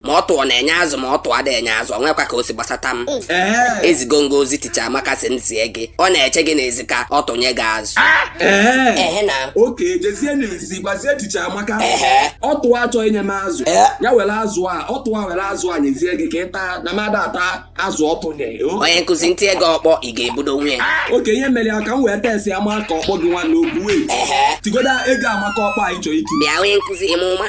ma ọtụ na-enye azụ ma ọtụ adị enye azụ o nwekwa ka o si gbasata m ezigo m gị ozi ticha amaka sị m zie gị ọ na-eche gị n'ezi ka ọ tụnye gị azụ ehe na oke jezie n'ezi gwazie ticha amaka Ehe. ọtụ a chọ inye m azụ Ee. ya were azụ a ọtụ a were azụ a nyezie gị ka ị taa na m adị ata azụ ọtụ nye o. onye nkụzi m tie gị ọkpọ ị ga-ebudo nwunye oke ihe mere ya ka m wee test ya maka ọkpọ gị nwa na-ekwu wee ehe tigoda ego amaka ọkpọ anyị chọrọ iti bịa onye nkụzi ime ụma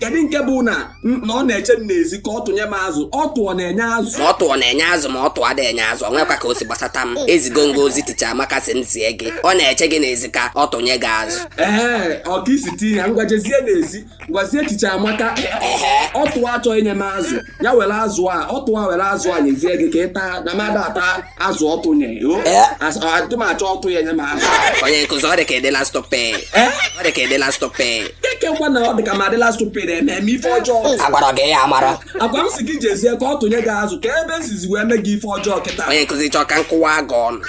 kedu nke bụ na na ọ na-eche m n'ezi ka ọ tụnye m azụ ọtụ ọ na-enye azụ ma ọtụ na-enye azụ ma ọtụ adị enye azụ o nwekwa ka o si gbasata m ezigo m gị ozi ticha amaka sị m zie gị ọ na-eche gị n'ezi ka ọ tụnye gị azụ ee ọ ka i si tinye ya ngwa jezie n'ezi gwazie ticha amaka ọtụ a chọ inye m azụ ya were azụ a ọtụ a were azụ a nyezie gị ka ị taa na m adị ata azụ ọtụ nye adị m achọ ọtụ ya nye m azụ onye nkụzi ọ dị ka ị dịla stupid ọ dị ka ị dịla stupid kee nke wụ na ọ dị ka m adịla stupid na-eme eme ife ọjọọ agwara gị ya amara agwa m sị gị jezie ka ọ tụnye gị azụ kee ebe m sizi wee mee gị ife ọjọọ kịta onye nkụzi chọọ ka m kụwa gị ọnụ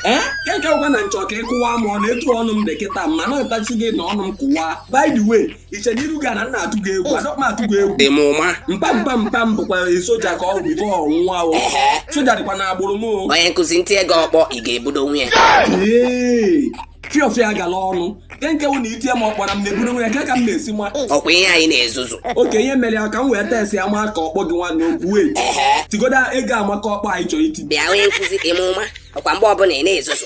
kee nke wụ na m chọ ka ị kụwa m ọnụ etu ọnụ m dị kịta mana ntachi gị na ọnụ m kụwa by the way i che na iru gị na m na-atụ gị egwu adịkwa m atụ gị egwu dị m ụma mpa mpa mpa m bụkwa soja ka ọ bụ before ọnwụnwa o soja dịkwa na agbụrụ m o onye nkụzi m tie gị ọkpọ ị ga-ebudo onwe ya ee fiọfịa gala ọnụ kee nke wụ na i tie m ọkpọ a m na-ebudo onwe ya nke ka m na-esi nwa ọkwa ihe anyị na-ezuzu oke ihe mere ya ka m wee test ya maka ọkpọ gị nwa na-ekwu wee tigoda ego amaka ọkpọ anyị chọrọ iti bịa onye nkụzi dị m ụma ọkwa mgbe ọbụla ị na-ezuzu